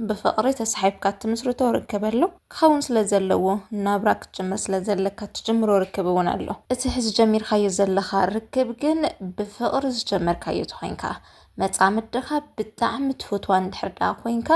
ብፍቕሪ ተሳሒብካ እትምስርቶ ርክብ ኣሎ፣ ክኸውን ስለ ዘለዎ ናብራ ክትጅምር ስለ ዘለካ እትጅምሮ ርክብ እውን ኣሎ። እቲ ሕዚ ጀሚርካዮ ዘለኻ ርክብ ግን ብፍቕሪ ዝጀመርካዮ ተኾይንካ፣ መጻምድኻ ብጣዕሚ ትፍትዋ እንድሕር ደኣ ኮይንካ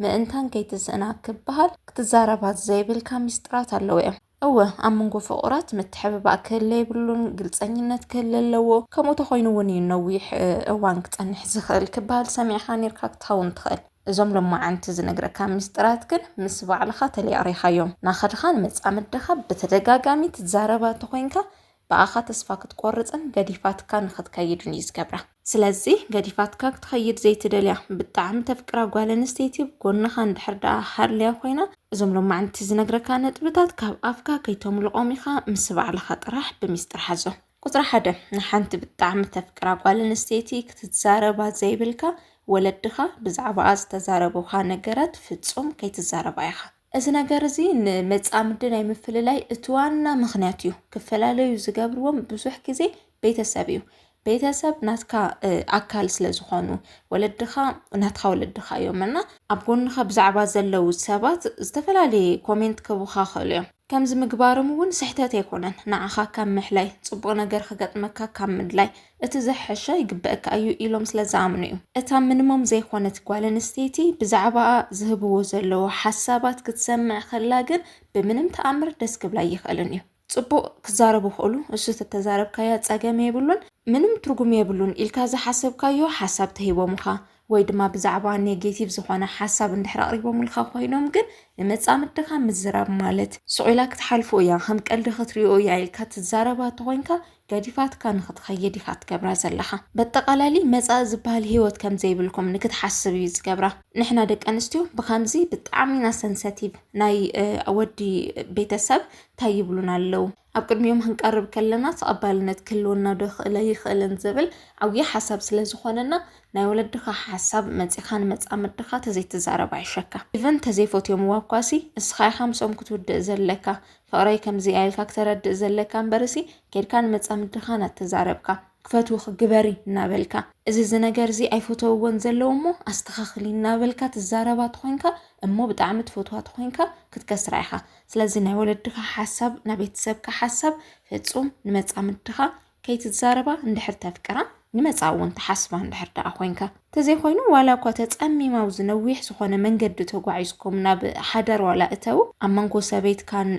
ምእንታን ከይትስእና ክበሃል ክትዛረባ ዘይብልካ ሚስጥራት ኣለዉ እዮም። እወ ኣብ መንጎ ፍቑራት ምትሕብባእ ክህለ የብሉን፣ ግልጸኝነት ክህለ ኣለዎ፣ ከምኡ ተኾይኑ እውን እዩ ነዊሕ እዋን ክጸንሕ ዝኽእል ክበሃል ሰሚዕኻ ኔርካ ክትኸውን ትኽእል። እዞም ሎማዓንቲ ዝነግረካ ሚስጥራት ግን ምስ ባዕልኻ ተለያሪኻዮም ናኸድኻ ንመጻምድኻ ብተደጋጋሚ ትዛረባ ተኾይንካ ብኣኻ ተስፋ ክትቆርጽን ገዲፋትካ ንኽትከይድን እዩ ዝገብራ። ስለዚ ገዲፋትካ ክትኸይድ ዘይትደልያ ብጣዕሚ ተፍቅራ ጓል ኣንስተይቲ ኣብ ጎንኻ እንድሕር ደኣ ሃልያ ኮይና እዞም ሎማዕንቲ ዝነግረካ ነጥብታት ካብ ኣፍካ ከይተምልቖም ኢኻ ምስ ባዕልኻ ጥራሕ ብሚስጥር ሓዞም። ቁጽሪ ሓደ፣ ንሓንቲ ብጣዕሚ ተፍቅራ ጓል ኣንስተይቲ ክትዛረባ ዘይብልካ ወለድኻ ብዛዕባኣ ዝተዛረቡኻ ነገራት ፍጹም ከይትዛረባ ኢኻ። እዚ ነገር እዚ ንመጻምዲ ናይ ምፍልላይ እቲ ዋና ምክንያት እዩ። ክፈላለዩ ዝገብርዎም ብዙሕ ግዜ ቤተሰብ እዩ። ቤተሰብ ናትካ ኣካል ስለ ዝኾኑ ወለድኻ ናትካ ወለድኻ እዮም እና ኣብ ጎንኻ ብዛዕባ ዘለዉ ሰባት ዝተፈላለየ ኮሜንት ክህቡኻ ይኽእሉ እዮም። ከምዚ ምግባሮም እውን ስሕተት ኣይኮነን፣ ንዓኻ ካብ ምሕላይ፣ ጽቡቕ ነገር ክገጥመካ ካብ ምድላይ፣ እቲ ዝሐሸ ይግበእካ እዩ ኢሎም ስለዝኣምኑ እዩ። እታ ምንሞም ዘይኾነት ጓል ኣንስተይቲ ብዛዕባኣ ዝህብዎ ዘለዉ ሓሳባት ክትሰምዕ ከላ ግን ብምንም ተኣምር ደስ ክብላ ኣይኽእልን እዩ። ጽቡቕ ክዛረቡ ይኽእሉ፣ እሱ ተተዛረብካያ ጸገም የብሉን፣ ምንም ትርጉም የብሉን ኢልካ ዝሓሰብካዮ ሓሳብ ተሂቦሙኻ፣ ወይ ድማ ብዛዕባ ኔጌቲቭ ዝኾነ ሓሳብ እንድሕር ኣቕሪቦምልካ ኮይኖም ግን ንመጻምድኻ ምዝራብ ማለት ስቕ ኢላ ክትሓልፎ እያ ከም ቀልዲ ክትሪኦ እያ ኢልካ ትዛረባ ተኾይንካ ገዲፋትካ ንክትኸይድ ኢኻ ትገብራ ዘለኻ በጠቓላሊ መጻኢ ዝበሃል ሂወት ከም ዘይብልኩም ንክትሓስብ እዩ ዝገብራ ንሕና ደቂ ኣንስትዮ ብከምዚ ብጣዕሚ ኢና ሰንሰቲቭ ናይ ወዲ ቤተሰብ እንታይ ይብሉና ኣለዉ ኣብ ቅድሚኦም ክንቀርብ ከለና ተቐባልነት ክህልወናዶ ይኽእል ኣይኽእልን ዝብል ዓብዪ ሓሳብ ስለ ዝኾነና ናይ ወለድኻ ሓሳብ መፂኻ ንመፃምድኻ ተዘይትዛረብ ኣይሸካ ኢቨን ተዘይፈትዮምዋ እኳሲ እስኻ ኢኻ ምስኦም ክትውድእ ዘለካ ፍቕረይ ከምዚ ኣኢልካ ክተረድእ ዘለካ እምበርሲ ኬድካ ንመፃምድኻ ናተዛረብካ ክፈትውኺ ግበሪ እናበልካ እዚ እዚ ነገር እዚ ኣይፈተውዎን ዘለዉ እሞ ኣስተኻኽሊ እናበልካ ትዛረባ ተኾይንካ እሞ ብጣዕሚ ትፈትዋ ተኾይንካ ክትከስራ ኢኻ ስለዚ ናይ ወለድኻ ሓሳብ ናይ ቤተሰብካ ሓሳብ ፍፁም ንመፃምድኻ ከይትዛረባ እንድሕር ተፍቅራ ንመፃ እውን ተሓስባ እንድሕር ደኣ ኮንካ ተዘይኮይኑ ዋላ እኳ ተፀሚማ ኣብዚ ነዊሕ ዝኾነ መንገዲ ተጓዒዝኩም ናብ ሓዳር ዋላ እተው ኣብ መንጎ ሰበይትካን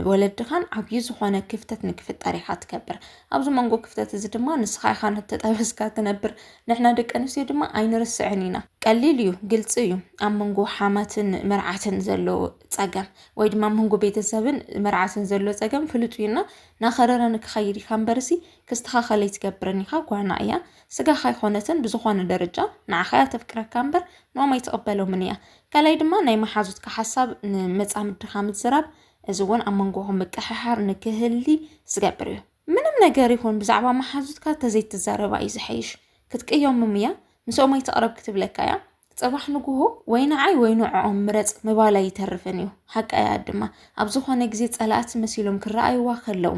ወለድኻን ዓብዪ ዝኾነ ክፍተት ንክፍጠር ኢኻ ትከብር ኣብዚ መንጎ ክፍተት እዚ ድማ ንስኻ ኢኻ ንተጠበስካ ትነብር ንሕና ደቂ ኣንስትዮ ድማ ኣይንርስዕን ኢና ቀሊል እዩ ግልፂ እዩ ኣብ መንጎ ሓማትን መርዓትን ዘሎ ፀገም ወይ ድማ መንጎ ቤተሰብን መርዓትን ዘሎ ፀገም ፍሉጥ እዩ እና ናኸረረ ንክኸይድ ኢኻ እምበርሲ ክስተኻኸል ኣይትገብርን ኢኻ ጓና እያ ስጋኻ ኣይኮነትን ብዝኾነ ደረጃ ንዓኻ እያ ተፍቅረካ እምበር ኖም ኣይትቕበሎምን እያ ካልኣይ ድማ ናይ መሓዙትካ ሓሳብ ንመፃምድኻ ምዝራብ እዚ እውን ኣብ መንጎኹም ምቅሕሓር ንክህሊ ዝገብር እዩ ምንም ነገር ይኹን ብዛዕባ መሓዙትካ ተዘይትዛረባ እዩ ዝሐይሽ ክትቅየምም እያ ምስኦም ኣይትቕረብ ክትብለካ እያ ጽባሕ ንግሆ ወይ ንዓይ ወይ ንዕኦም ምረጽ ምባል ኣይተርፍን እዩ። ሓቂ እያ ድማ ኣብ ዝኾነ ግዜ ጸላእቲ መሲሎም ክረኣይዋ ከለዉ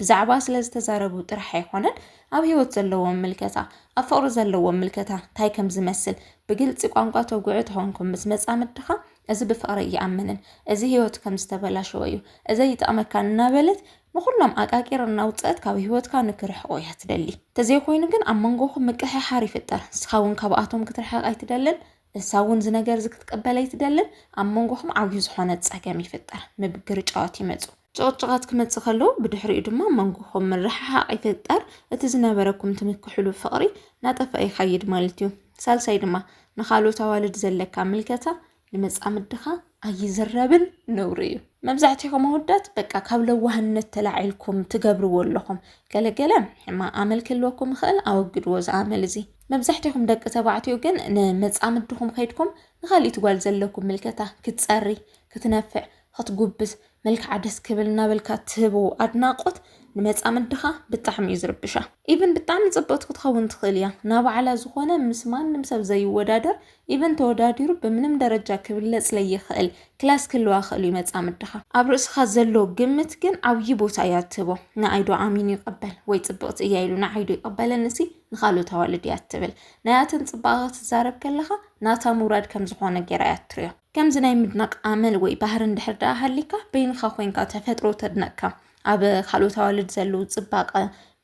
ብዛዕባ ስለ ዝተዛረቡ ጥራሕ ኣይኮነን ኣብ ህይወት ዘለዎም ምልከታ ኣብ ፍቕሪ ዘለዎም ምልከታ እንታይ ከም ዝመስል ብግልፂ ቋንቋ ተጉዑ ተኾንኩም ምስ መጻምድኻ እዚ ብፍቕሪ እይኣምንን እዚ ህይወት ከም ዝተበላሸወ እዩ እዚ ይጠቕመካ እናበለት ንኹሎም ኣቃቂር እናውጸእት ካብ ህይወትካ ንክርሕቁ እያ ትደሊ። ተዘይኮይኑ ግን ኣብ መንጎኹም ምቅሕሓር ይፍጠር። ንስኻ እውን ካብኣቶም ክትርሕቅ ኣይትደልን፣ እሳ እውን እዚ ነገር እዚ ክትቅበል ኣይትደልን። ኣብ መንጎኹም ዓብዩ ዝኾነ ጸገም ይፍጠር። ምብግርጫዋት ይመጹ። ጭቅጭቃት ክመጽእ ከሎ ብድሕሪኡ ድማ ኣብ መንጎኹም ምርሕሓቅ ይፍጠር። እቲ ዝነበረኩም ትምክሕሉ ፍቅሪ ናጠፈኣ ይኸይድ ማለት እዩ። ሳልሳይ ድማ ንካልኦት ኣዋልድ ዘለካ ምልከታ ንመጻምድኻ ኣይዝረብን ነውሪ እዩ መብዛሕትኹም ኣወዳት በቃ ካብ ለዋህነት ተላዒልኩም ትገብርዎ ኣለኹም ገለ ገለ ሕማቕ ኣመል ክህልወኩም ይኽእል ኣወግድዎ እዚ ኣመል እዚ መብዛሕትኹም ደቂ ተባዕትዮ ግን ንመጻምድኹም ከይድኩም ንኻሊእት ጓል ዘለኩም ምልከታ ክትጸሪ ክትነፍዕ ክትጉብዝ መልክዓ ደስ ክብል እናበልካ ትህቦ ኣድናቆት ንመጻምድ ድኻ ብጣዕሚ እዩ ዝርብሻ ኢቭን ብጣዕሚ ጽብቅቲ ክትኸውን ትኽእል እያ ናባዕላ ዝኾነ ምስ ማንም ሰብ ዘይወዳደር ኢቭን ተወዳዲሩ ብምንም ደረጃ ክብለጽ ለይኽእል ክላስ ክህልዋ ክእል እዩ መጻምድ ድኻ ኣብ ርእስኻ ዘሎ ግምት ግን ዓብዪ ቦታ እያ ትህቦ ንኣይ ዶ ኣሚኑ ይቀበል ወይ ጽብቅቲ እያ ኢሉ ንዓይ ዶ ይቀበለኒ ሲ ንኻልኦት ኣዋልድ እያ ትብል ናያተን ጽባቀ ክትዛረብ ከለኻ ናታ ምውራድ ከም ዝኾነ ጌራ እያ ትሪኦ ከምዚ ናይ ምድናቕ ኣመል ወይ ባህሪ እንድሕር ደኣ ሃሊካ በይንኻ ኮንካ ተፈጥሮ ተድነቕካ ኣብ ካልኦት ኣዋልድ ዘለዉ ጽባቐ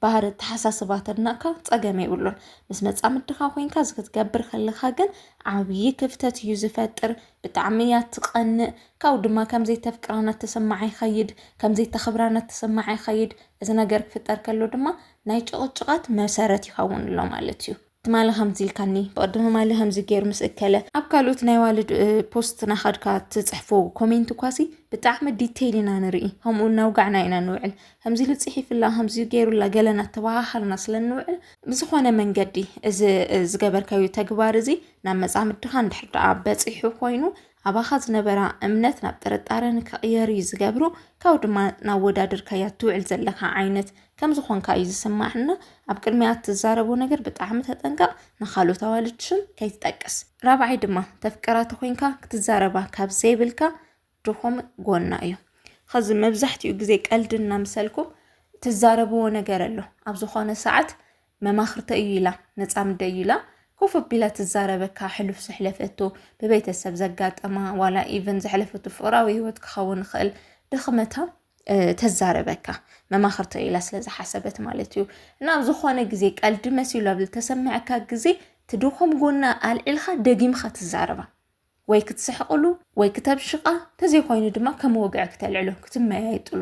ባህሪ ኣተሓሳስባ ተድነቕካ ጸገም የብሉን ምስ መጻምድኻ ኮንካ እዚ ክትገብር ከለኻ ግን ዓብዪ ክፍተት እዩ ዝፈጥር ብጣዕሚ እያ ትቐንእ ካብኡ ድማ ከምዘይተፍቅራ እናተሰማዓ ይኸይድ ከምዘይተኽብራ እናተሰማዓ ይኸይድ እዚ ነገር ክፍጠር ከሎ ድማ ናይ ጭቕጭቓት መሰረት ይኸውን ኣሎ ማለት እዩ ትማሊ ከምዚ ኢልካኒ ብቅድሚ ማሊ ከምዚ ገይሩ ምስ እከለ ኣብ ካልኦት ናይ ዋልድ ፖስት ናኻድካ ትፅሕፎ ኮሜንት ኳሲ ብጣዕሚ ዲቴይል ኢና ንርኢ ከምኡ እናውጋዕና ኢና ንውዕል ከምዚ ኢሉ ፅሒፍላ ከምዚ ገይሩላ ገለና ተባሃሃልና ስለ ንውዕል ብዝኾነ መንገዲ እዚ ዝገበርካዩ ተግባር እዚ ናብ መፃምድኻ እንድሕር ደኣ በፂሑ ኮይኑ ኣባኻ ዝነበራ እምነት ናብ ጥርጣረ ንክቕየር እዩ ዝገብሮ ካብኡ ድማ ናወዳድርካያ ትውዕል ዘለካ ዓይነት ከም ዝኾንካ እዩ ዝስማዕና ኣብ ቅድሚያ እትዛረቦ ነገር ብጣዕሚ ተጠንቀቕ ንኻልኦት ኣዋልድ ሽም ከይትጠቅስ ራብዓይ ድማ ተፍቅራ ተኾይንካ ክትዛረባ ካብ ዘይብልካ ድኹም ጎና እዩ ኸዚ መብዛሕትኡ ግዜ ቀልዲ እናምሰልኩም ትዛረብዎ ነገር ኣሎ ኣብ ዝኾነ ሰዓት መማኽርተይ እዩ ኢላ መጻምደይ እዩ ኢላ ኮፍ ኣቢላ ትዛረበካ ሕሉፍ ዘሕለፈቶ ብቤተሰብ ዘጋጠማ ዋላ ኢቨን ዘሕለፈቶ ፍቅራዊ ህይወት ክኸውን ይኽእል ድኽመታ ተዛረበካ መማኽርተ ኢላ ስለ ዝሓሰበት ማለት እዩ እና ኣብ ዝኾነ ግዜ ቀልዲ መሲሉ ኣብ ዝተሰምዐካ ግዜ ትድኹም ጎና ኣልዒልካ ደጊምካ ትዛረባ ወይ ክትስሕቕሉ ወይ ክተብሽቓ ተዘይኮይኑ ድማ ከም ወግዒ ክተልዕሎ ክትመያየጥሉ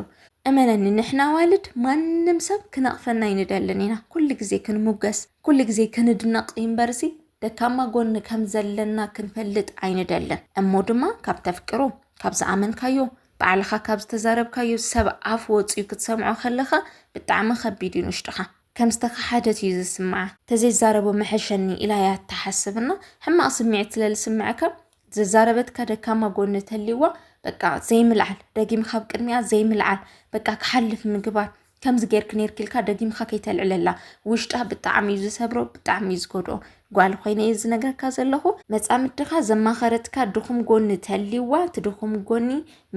እመነኒ ንሕና ዋልድ ማንም ሰብ ክነቕፈና ኣይንደልን ኢና ኩሉ ግዜ ክንሙገስ ኩሉ ግዜ ክንድነቕ እምበርሲ ደካማ ጎኒ ከም ዘለና ክንፈልጥ ኣይንደልን እሞ ድማ ካብ ተፍቅሮ ካብ ዝኣመንካዮ ባዕልኻ ካብ ዝተዛረብካዮ ሰብ ኣፍ ወፅዩ ክትሰምዖ ከለኻ ብጣዕሚ ከቢድ እዩ ንውሽጥኻ ከም ዝተኸሓደት እዩ ዝስምዓ። ተዘይዛረቦ መሐሸኒ ኢላ እያ እትሓስብ እና ሕማቕ ስምዒት ስለ ዝስምዐካ ዘዛረበትካ ደካማ ጎኒ ተልይዋ በቃ ዘይምልዓል ደጊምካ ኣብ ቅድሚኣ ዘይምልዓል በቃ ክሓልፍ ምግባር ከምዚ ጌርኪ ኔርኪ ኢልካ ደጊምካ ከይተልዕለላ ውሽጣ ብጣዕሚ እዩ ዝሰብሮ ብጣዕሚ እዩ ዝጎድኦ ጓል ኮይነ እየ ዝነግረካ ዘለኹ መፃምድኻ ዘማኸረትካ ድኹም ጎኒ ተልይዋ እቲ ድኹም ጎኒ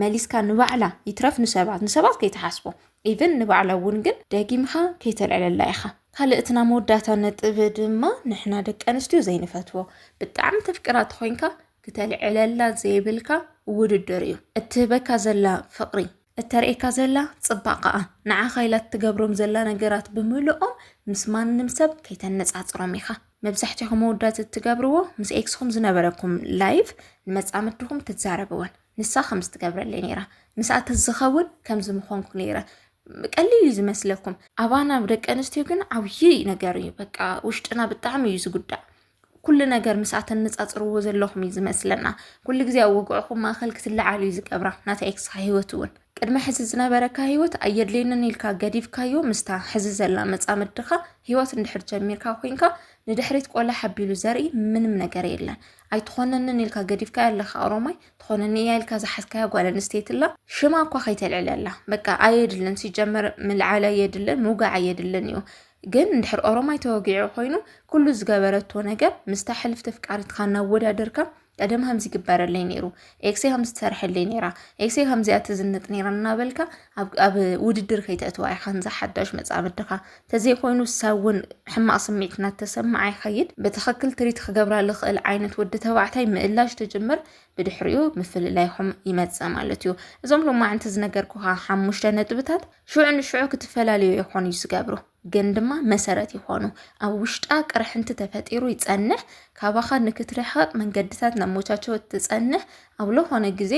መሊስካ ንባዕላ ይትረፍ ንሰባት ንሰባት ከይትሓስቦ ኢቭን ንባዕላ እውን ግን ደጊምካ ከይተልዕለላ ኢኻ። ካልእ እቲ ናይ መወዳእታ ነጥብ ድማ ንሕና ደቂ ኣንስትዮ ዘይንፈትዎ ብጣዕሚ ተፍቅራ ተኾይንካ ክተልዕለላ ዘይብልካ ውድድር እዩ። እትህበካ ዘላ ፍቕሪ፣ እተርእየካ ዘላ ጽባቐኣ፣ ንዓኻ ኢላ እትገብሮም ዘላ ነገራት ብምልኦም ምስ ማንም ሰብ ከይተነጻጽሮም ኢኻ። መብዛሕትኹም መወዳት እትገብርዎ ምስ ኤክስኹም ዝነበረኩም ላይፍ ንመጻምድኹም ክትዛረብወን ንሳ ከምዚ ትገብረለይ ነይራ፣ ምስኣ ተዝኸውን ከምዚ ምኾንኩ ነይረ። ቀሊል እዩ ዝመስለኩም፣ ኣባና ደቂ ኣንስትዮ ግን ዓብዪ ነገር እዩ። በቃ ውሽጥና ብጣዕሚ እዩ ዝጉዳእ። ኩሉ ነገር ምስኣ ተነፃፅርዎ ዘለኹም እዩ ዝመስለና ኩሉ ግዜ ኣብ ወግዕኹም ማእኸል ክትለዓሉ እዩ ዝገብራ ናታ ኤክስኻ ሂወት እውን ቅድሚ ሕዚ ዝነበረካ ሂወት ኣየድልየንን ኢልካ ገዲፍካዮ ምስታ ሕዚ ዘላ መፃምድኻ ሂወት እንድሕር ጀሚርካ ኮንካ ንድሕሪት ቆላ ሓቢሉ ዘርኢ ምንም ነገር የለን ኣይትኾነንን ኢልካ ገዲፍካያ ኣለካ ኦሮማይ ትኾነኒ እያ ኢልካ ዝሓዝካያ ጓል ኣንስተይቲ ኣላ ሽማ እኳ ከይተልዕለላ በቃ ኣየድልን ሲጀመር ምልዓል ኣየድልን ምውጋዕ ኣየድልን እዩ ግን እንድሕር ኦሮማይ ተወጊዑ ኮይኑ ኩሉ ዝገበረቶ ነገር ምስታ ሕልፍቲ ፍቃሪትካ እናወዳደርካ ቀደም ከምዚ ይግበረለይ ነይሩ ኤክሴ ከምዚ ትሰርሐለይ ነይራ ኤክሴ ከምዚኣ ትዝንጥ ነይራ እናበልካ ኣብ ውድድር ከይተእትዋ ኢኻ ንዛ ሓዳሽ መፃምድኻ ተዘይኮይኑ ሰብ እውን ሕማቕ ስምዒት እናተሰማዓ ይኸይድ ብትኽክል ትሪት ክገብራ ዝኽእል ዓይነት ወዲ ተባዕታይ ምእላሽ ትጅምር ብድሕሪኡ ምፍልላይኹም ይመፅእ ማለት እዩ እዞም ሎማዕንቲ ዝነገርኩኻ ሓሙሽተ ነጥብታት ሽዑ ንሽዑ ክትፈላለዩ ይኾኑ እዩ ዝገብሩ ግን ድማ መሰረት ይኾኑ ኣብ ውሽጣ ቅርሕንቲ ተፈጢሩ ይፀንሕ ካባኻ ንክትርሕቕ መንገድታት ነሞቻቸው ትፀንሕ ኣብ ዝኾነ ግዜ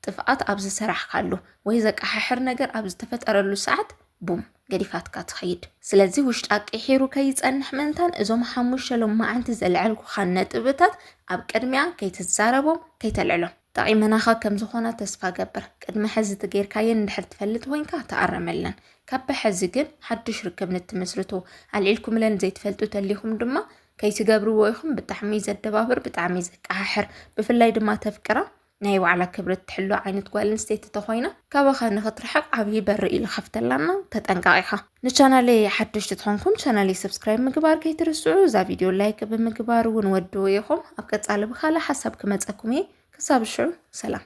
ጥፍኣት ኣብ ዝሰራሕካሉ ወይ ዘቀሓሕር ነገር ኣብ ዝተፈጠረሉ ሰዓት ቡም ገዲፋትካ ትኸይድ። ስለዚ ውሽጣ ቂሒሩ ከይጸንሕ ምእንታን እዞም ሓሙሽተ ሎማዓንቲ ዘልዐልኩኻ ነጥብታት ኣብ ቅድሚኣ ከይትዛረቦም ከይተልዕሎም። ጠቒመናኻ ከም ዝኾና ተስፋ እገብር። ቅድሚ ሕዚ እቲ ጌርካየን እንድሕር ትፈልጥ ኮይንካ ተኣረመለን። ካብ ብሐዚ ግን ሓዱሽ ርክብ ንትምስርቱ ኣልዒልኩምለን ዘይትፈልጡ ተሊኹም ድማ ከይትገብርዎ ኢኹም ብጣዕሚ ዘደባብር ብጣዕሚ ዘቀሓሕር ብፍላይ ድማ ተፍቅራ ናይ ባዕላ ክብሪ እትሕሉ ዓይነት ጓል ኣንስተይቲ ተኾይና ካባኻ ንኽትርሕቕ ዓብዪ በሪ እዩ ዝኸፍተላና ተጠንቀቕ ኢኻ ንቻናለይ ሓደሽቲ ትኾንኩም ቻናለይ ሰብስክራይብ ምግባር ከይትርስዑ እዛ ቪድዮ ላይክ ብምግባር እውን ወድኡ ኢኹም ኣብ ቀፃሊ ብካልእ ሓሳብ ክመፀኩም እየ ክሳብ ሽዑ ሰላም